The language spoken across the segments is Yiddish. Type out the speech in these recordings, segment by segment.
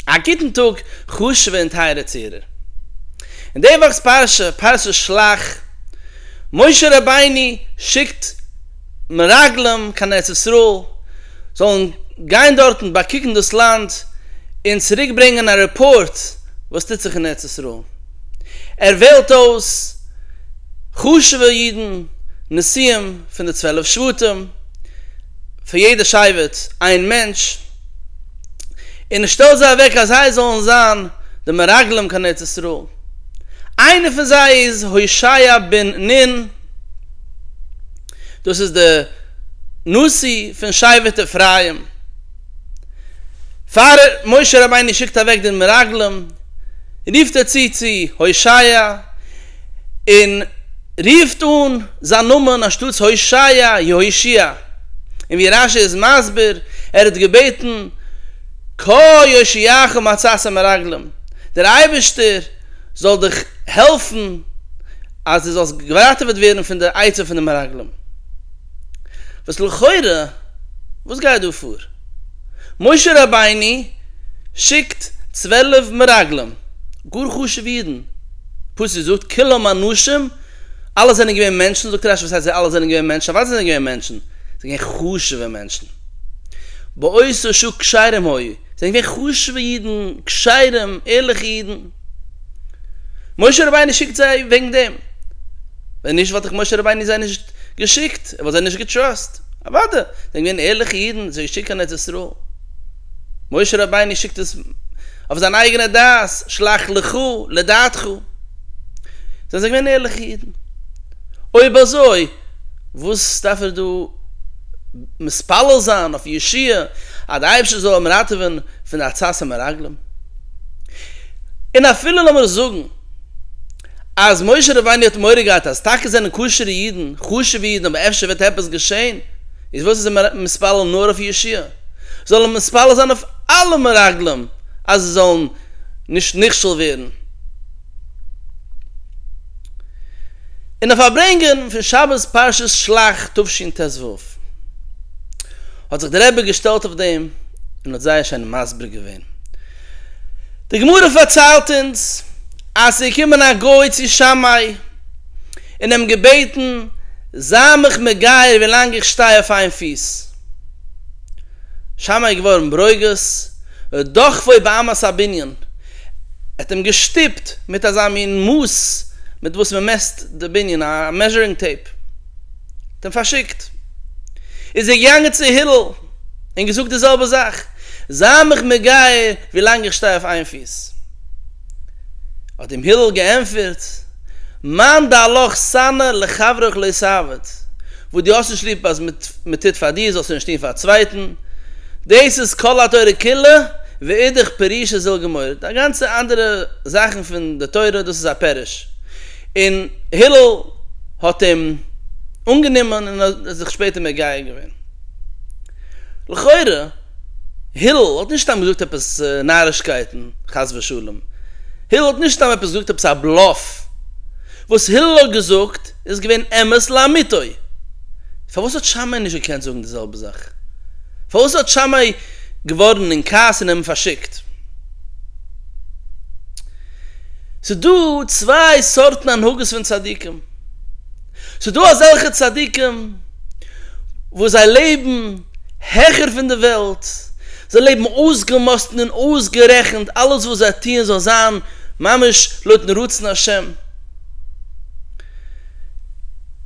א גוטן טאג חשוב'ע און טייערע צוהערער. אין די וואכ'ס פרשה, פרשת שלח, משה רבינו שיקט מרגלים קיין ארץ ישראל, זאלן גיין דארטן באקוקן דאס לאנד און צוריק ברענגען א רעפארט וואס טוט זיך אין ארץ ישראל. ער וועלט אויס חשוב'ע אידן, נשיאים פון די צוועלף שבטים, פון יעדע שבט איין מענטש, און איך שטעל זיי אוועק אז זיי זאלן זיין די מרגלים קיין ארץ ישראל, איינער פון זיי איז הושעיה בן נון, דאס איז די נשיא פון שבט אפרים, פאר משה רבינו שיקט אוועק די מרגלים רופט ער צו צו הושעיה, און רופט אן זיין נאמען אנשטאטס הושעיא, יהושיע, און ווי רש י איז מסביר, ער האט געבעטן כה יושיעך מצאתך מרגלים, דער אייבערשטער זאל דיך העלפן אז דו זאלסט געראטעוועט ווערן פון די עצה פון די מרגלים. וואס לכאורה, וואס גייט דא פאר? משה רבינו שיקט צוועלף מרגלים, גאר חשוב'ע אידן, פסוק זאגט כולם אנשים, אלע זענען געווען מענטשן, זאגט רשי וואס הייסט זיי אלע זענען געווען מענטשן, אוודאי זענען זיי געווען מענטשן, זיי זענען געווען חשוב'ע מענטשן, באותו שעה כשרים היו, זיי זענען געווען חשוב'ע אידן, כשרים, ערליכע אידן, משה רבינו שיקט זיי וועגן דעם, ווען נישט וואלט דאך משה רבינו זיי נישט געשיקט, ער וואלט זיי נישט געטראסט, אוודאי, זיי זענען געווען ערליכע אידן, זיי האט געשיקט קיין ארץ ישראל. משה רבינו שיקט עס אויף זיין אייגענע דעת, שלח לך לדעתך. זענען זיי געווען ערליכע אידן? אויב אזוי, וואס דארף ער דא מתפלל זיין אויף ישועה אז דער אייבערשטער זאל אים ראטעווען פון די עצת המרגלים? און אפילו לאמיר זאגן אז משה רבינו האט מורא געהאט אז טאקע זענען כשר'ע אידן, חשוב'ע אידן אבער אפשר וועט עפעס געשען, איז וואס איז ער מתפלל נאר אויף ישועה? זאל ער מתפלל זיין אויף אלע מרגלים אז זיי זאלן נישט נכשל ווערן אין די פארברענגען פון שבת פרשת שלח תשנ ט ו, האט זיך דער רבי געשטעלט אויף דעם און האט זייער שיין מסביר געווען, די גמרא פארציילט אונז אז עס איז געקומען א גוי צו שמאי און אים געבעטן, זיי מיך מגייר ווי לאנג איך שטיי אויף איין פיס. שם איז געווארן ברוגז, ודחפו באמת הבנין, ער האט אים געשטופט מיט אזא מין מאס מיט וואס מען מעסט די בנין, א מעזשערינג טעיפ, האט אים פארשיקט, איז ער געגאנגען צו הלל און געזאגט די זעלבע זאך, זיי מיך מגיה ווי לאנג איך שטיי אויף איין פיס. האט אים הילל געענטפערט, מאן דעלך שנא לחברך לא סעוות, וואס דו האסט נישט ליב אז מען טוט פאר דיר, זאלסטו נישט טון פאר א צווייטן, דאס איז כל התורה כולה, ואידך פירושא זיל גמור, די גאנצע אנדערע זאכן פון די תורה, דאס איז א פירוש. און הילל האט אים אנגענומען און האט זיך שפעטער מגייר געווען. לכאורה הילל האט נישט סתם געזאגט עפעס נארישקייטן, חס ושלום. הילל האט נישט סתם עפעס געזאגט עפעס א בלאף. וואס הילל האט געזאגט איז געווען אמת לאמיתו. פארוואס האט שמאי נישט געקענט זאגן די זעלבע זאך? פארוואס האט שמאי געווארן אין כעס און אים פארשיקט? ס'דא צוויי סארטן הנהגות פון צדיקים. ס'דא אזעלכע צדיקים וואס זיי לעבן העכער פון די וועלט, זיי לעבן אויסגעמאסטן און אויסגערעכנט, אלעס וואס זיי טוען זאל זיין ממש לויטן רצון השם,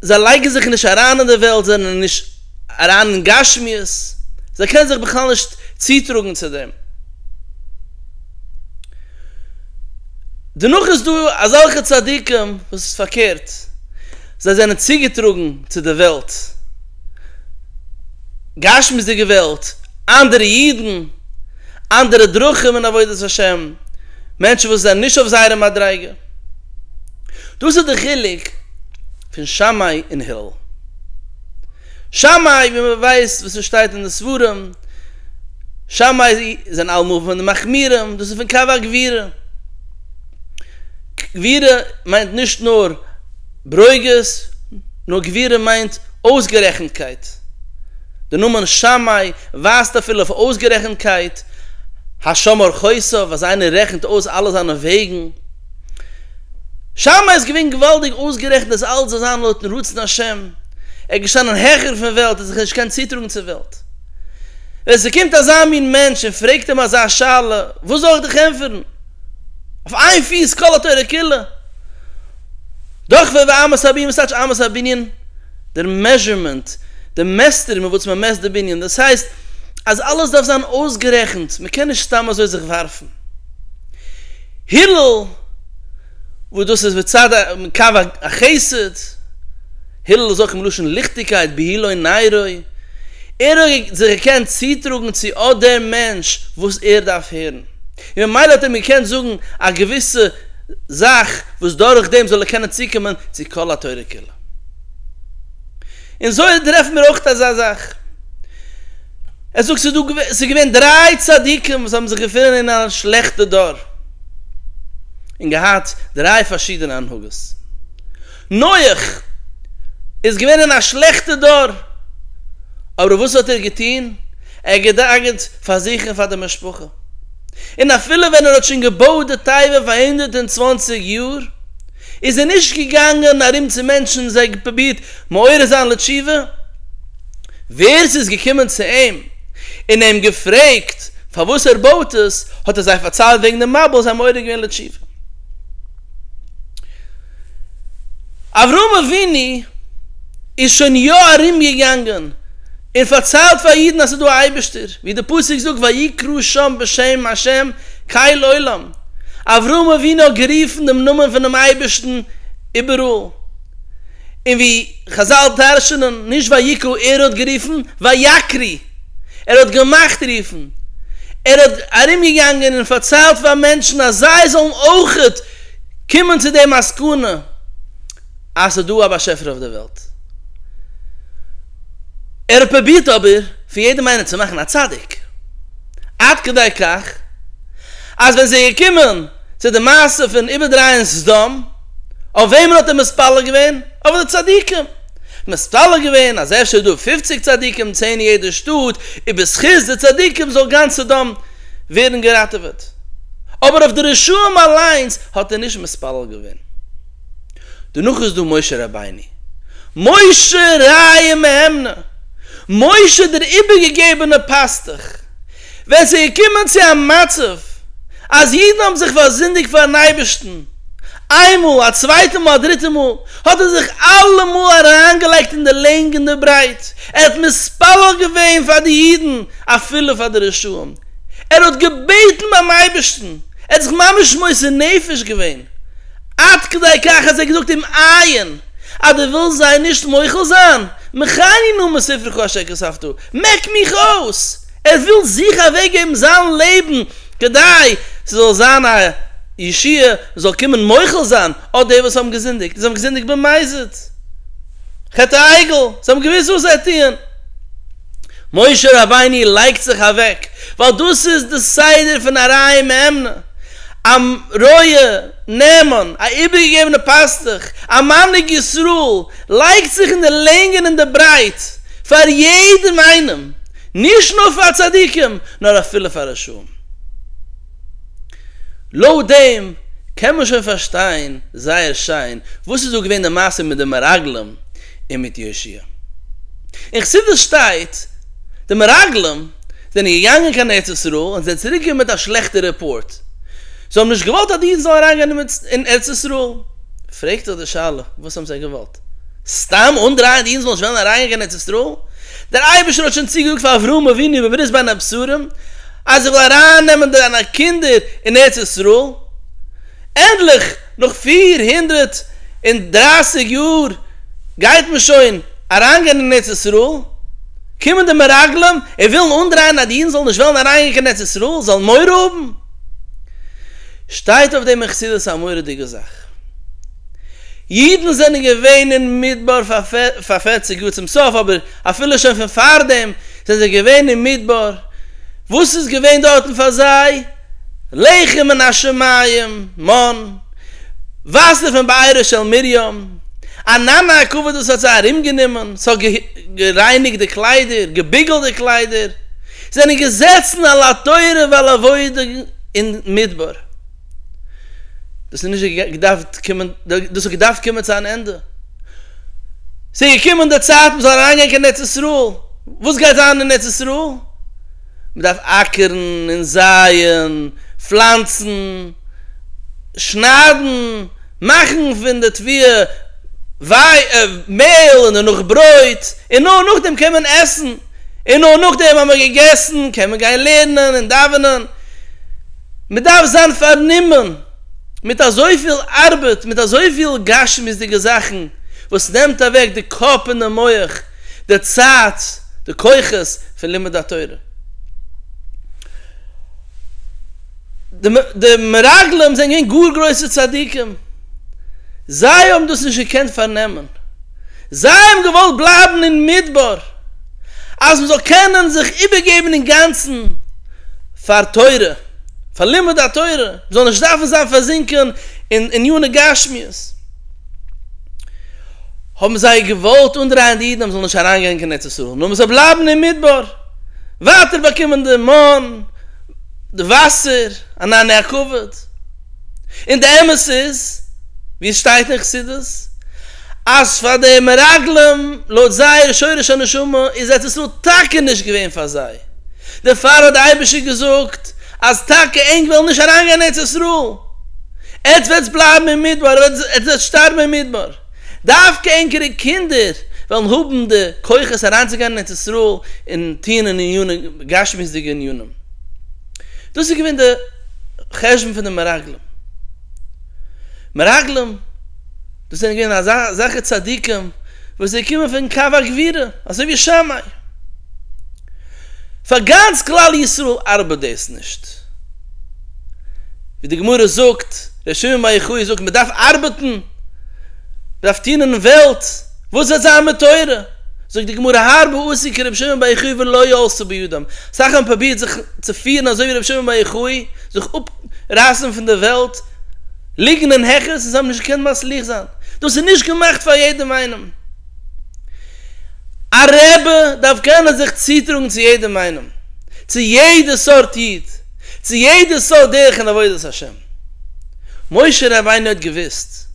זיי לייגן זיך נישט אריין אין די וועלט, זיי זענען נישט אריין אין גשמיות, זיי קענען זיך בכלל נישט צוטראגן צו דעם. דערנאך איז דא אזעלכע צדיקים וואס איז פארקערט, זיי זענען צוגעטראגן צו די וועלט, גשמיות'דיגע וועלט, אנדערע אידן, אנדערע דרכים אין עבודת השם, מענטשן וואס זענען נישט אויף זייערע מדריגה. דאס איז די חילוק פון שמאי און הלל. שמאי, ווי מען ווייסט וואס עס שטייט אין די ספרים, שמאי זענען אלעמאל פון די מחמירים, דאס איז פון קב ה גבירה. גבירה מיינט נישט נאר ברוגז, נאר גבירה מיינט אויסגערעכנטקייט. דער נאמען שמאי ווייזט אפילו אויף אויסגערעכנטקייט, השומר חוסיו, אז איינער רעכנט אויס אלע זיינע וועגן. שמה איז געווען געוואלדיג אויסגערעכנט אז אלץ זאל זיין לויטן רצון השם, ער איז געשטאנען העכער פון וועלט און זיך נישט געקענט צוטראגן צו וועלט. ווען ס'קומט אזא מין מענטש און פרעגט אים אזא שאלה, וואס זאל איך דיך ענטפערן? אויף איין פיס כל התורה כולה? דאך ווער ווי אמת הביאים, וואס טייטש אמת הבנין? דער מעזשערמענט, די מעסטער מיט וואס מען מעסט די בנין, דאס הייסט אז אלעס דארף זיין אויסגערעכנט, מען קען נישט סתם אזוי זיך ווארפן. הילל, וואס דאס איז מצד א קו החסד, הילל איז אויך מלשון ליכטיגקייט, בהילוי נעירוי, ער האט זיך געקענט צוטראגן צו אט דעם מענטש וואס ער דארף הערן, און ממילא האט ער אים געקענט זאגן א געוויסע זאך וואס דורכדעם זאל ער קענען צוקומען צו כל התורה כולה. אין זוהר טרעפן מיר אויך אזא זאך, ער זאגט ס'איז דא, ס'איז געווען דריי צדיקים וואס האבן זיך געפונען אין א שלעכטע דור, און געהאט דריי פארשידענע הנהגות. נוח איז געווען אין א שלעכטע דור, אבער וואס האט ער געטון? ער האט געדאגה'ט פאר זיך און פאר די משפחה, און אפילו ווען ער האט שוין געבויט די תיבה פאר הונדערט און צוואנציג יאר, איז ער נישט געגאנגען ארום צו מענטשן און זיי פרובירט מעורר זיין לתשובה? ווער ס'איז געקומען צו אים און אים געפרעגט פארוואס ער בויט עס, האט ער זיי פארציילט וועגן דעם מבול, זיי מעורר געווען לתשובה. אברהם אבינו איז שוין יא ארומגעגאנגען. און פארציילט פאר אידן אז ס'איז דא א אייבערשטער, ווי די פסוק זאגט ויקרא שם בשם השם כל עולם, אברהם אבינו האט גערופן דעם נאמען פונעם אייבערשטן איבעראל, און ווי חזל דרש'נען, נישט ויקרא, ער האט גערופן ויקרי, ער האט געמאכט רופן, ער האט ארומגעגאנגען און פארציילט פאר מענטשן אז זיי זאלן אויכעט קומען צו די מסקנא אז ס'איז דא א באשעפער אויף די וועלט. ער האט פרובירט אבער פון יעדעם איינעם צו מאכן א צדיק, עד כדי כך אז ווען ס'איז געקומען צו די מעשה פון איבערדרייען סדום, אויף וועמען האט ער מתפלל געווען? אויף די צדיקים! מתפלל געווען אז אפשר איז דא פופציג צדיקים, צען אין יעדע שטאט, און בזכות די צדיקים זאל גאנץ סדום ווערן געראטעוועט, אבער אויף די רשעים אליינס האט ער נישט מתפלל געווען. דערנאך איז דא משה רבינו, משה רעיא מהימנא, משה דער איבערגעגעבענע פאסטוך, ווען עס איז געקומען צו א מצב אז אידן האבן זיך פארזינדיגט פארן אייבערשטן, איינמאל, א צווייטע מאל, א דריטע מאל, האט ער זיך אלעמאל אריינגעלייגט אין די לענג און די ברייט, ער האט מתפלל געווען פאר די אידן אפילו פאר די רשעים. ער האט געבעטן ביים אייבערשטן, ער האט זיך ממש מוסר נפש געווען, עד כדי כך אז ער האט געזאגט אים עיין, אז דו ווילסט זיי נישט מוחל זיין, מחני נא מספרי ק אשר כספתו, מעק מיך אויס, ער וויל זיכער אוועק געבן זיין לעבן כדי ס'זאל זיין א ישועה, מ'זאל קומען מוחל זיין, אט די וואס האבן געזינדיגט, זיי האבן געזינדיגט במזיד, חטא העגל, זיי האבן געוואוסט וואס זיי טוען. משה רבינו לייגט זיך אוועק, ווייל דאס איז די סדר פון א רעי מהימנא, א רועה נאמן, א איבערגעגעבענע פאסטוך, א מנהיג ישראל, לייגט זיך אין די לענג און אין די ברייט, פאר יעדעם איינעם, נישט נאר פאר צדיקים, נאר אפילו פאר רשעים. לויט דעם קען מען שוין פארשטיין זייער שיין וואס איז דא געווען די מעשה מיט די מרגלים און מיט יושע. אין חסידות שטייט, די מרגלים זענען געגאנגען קיין ארץ ישראל און זענען צוריק געקומען מיט א שלעכטע רעפארט, זיי האבן נישט געוואלט אז די אידן זאלן אריינגיין אין ארץ ישראל. פרעגט זיך די שאלה, וואס האבן זיי געוואלט? סתם אנדרייען די אינזל נישט וועלן אריינגיין קיין ארץ ישראל, דער אייבערשטער האט שוין צוגעזאגט פאר אברהם אבינו בברית בין הבשרים אז ער וויל ארייננעמען דיינע קינדער אין ארץ ישראל, ענדליך נאך פֿיר הונדערט און דרײַסיק יאר גייט מען שוין אריינגיין אין ארץ ישראל, קומען די מרגלים און ווילן אנדרייען אז די אינזל נישט וועלן אריינגיין קיין ארץ ישראל זאלן מורא האבן? שטייט אויף דעם אין חסידות א מורא'דיגע זאך. אידן זענען געווען אין מדבר פאר פערציג יאר צום סוף, אבער אפילו שוין פון פארדעם זענען זיי געווען אין מדבר, וואס איז געווען דארטן פאר זיי? לחם מן השמים, מן, וואסער פון בארה של מרים, א נאנא א כבוד וואס האט זיי ארומגענומען, ס'האט גערייניגט די קליידער, געביגלט די קליידער, זענען געזעצן על התורה ועל העבודה אין מדבר. דאס איז נישט געדארפט קומען, דאס האט געדארפט קומען צו אן ענדע. ס'איז געקומען די צייט מ'זאל אריינגיין קיין ארץ ישראל. וואס גייט זיין אין ארץ ישראל? מ'דארף אקערן און זייען, פלאנצן, שניידן, מאכן פון די תבואה מעהל און דערנאך ברויט, און נאר נאכדעם קען מען עסן. און נאר נאכדעם אז מען האט געגעסן קען מען גיין לערנען און דאווענען, מען דארף זיין פארנומען מיט אזויפיל ארבעט, מיט אזויפיל גשמיות'דיגע זאכן וואס נעמט אוועק די קאפ און די מח, די צייט, די כוחות פון לימוד התורה. די מרגלים זענען געווען גאר גרויסע צדיקים, זיי האבן דאס נישט געקענט פארנעמען. זיי האבן געוואלט בלייבן אין מדבר אז מען זאל קענען זיך איבערגעבן אינגאנצן פאר תורה, פאר לימוד התורה, מען זאל נישט דארפן זיין פארזינקען אין עניני גשמיות, האבן זיי געוואלט אנדרייען די אידן אז מען זאל נישט אריינגיין קיין ארץ ישראל, נאר מען זאל בלייבן אין מדבר, ווייטער באקומען די מן, די וואסער, אן עני הכבוד. און די אמת איז ווי עס שטייט אין חסידות אז פאר די מרגלים לויט זייער שורש הנשמה איז ארץ ישראל טאקע נישט געווען פאר זיי דערפאר האט די אייבערשטער געזאגט אז טאקע ענק וועלן נישט אריינגיין אין ארץ ישראל עטס וועטס בלייבן אין מדבר אדער עטס וועטס שטארבן אין מדבר דווקא ענקערע קינדער וועלן האבן די כוחות אריינצוגיין אין ארץ ישראל און טוען אין ענינים גשמיות'דיגע ענינים. דאס איז געווען די חשבון פון די מרגלים. מרגלים, דאס זענען געווען אזעלכע צדיקים וואס זיי קומען פון קו הגבורה, אזוי ווי שמאי. פאר גאנץ כלל ישראל ארבעט דאס נישט. ווי די גמרא זאגט, ר' שמעון בר יוחאי זאגט, מען דארף ארבעטן, מען דארף טון אין וועלט, וואס וועט זיין מיט תורה? זאגט די גמרא, הרבה עשו כר' שמעון בר יוחאי ולא יעשו בידם, סאך האבן פרובירט זיך צו פירן אזוי ווי רבי שמעון בר יוחאי, זיך אפרייסן פון די וועלט, ליגן אין העכערס, און זיי האבן נישט געקענט מצליח זיין. דאס איז נישט געמאכט פאר יעדעם איינעם. א רבי דארף קענען זיך צוטראגן צו יעדעם איינעם, צו יעדע סארט איד, צו יעדע סארט דרך אין עבודת השם. משה רבינו האט געוואוסט,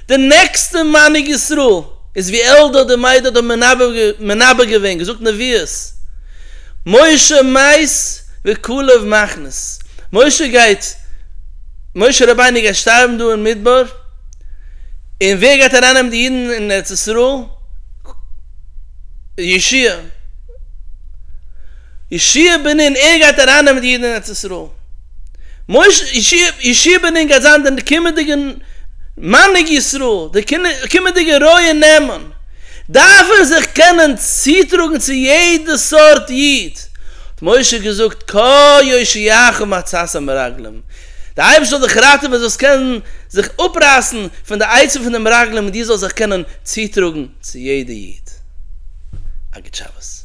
די נעקסטע מנהיג ישראל איז ווי עלדאד און מעדאד האבן מנבא געווען, געזאגט נביאות, משה מת וכלב מחנס, משה גייט, משה רבינו גייט שטארבן דא אין מדבר, און ווער גייט ארייננעמען די אידן אין ארץ ישראל? ישוע. ישעי' בן נון, ער גייט ארייננעמען די אידן אין ארץ ישראל. משה, ישעי' בן נון גייט זיין דער קומענדיגער מנהיג ישראל, דער קומענדיגער רועה נאמן. דארף ער זיך קענען צוטראגן צו יעדע סארט איד. האט משה געזאגט, כה יושיעך מעצת המרגלים, דער אייבערשטער זאל דיך ראטעווען דו זאלסט קענען זיך אפרייסן פון די עצה פון די מרגלים און דו זאלסט זיך קענען צוטראגן צו יעדע איד. א גוט שבת.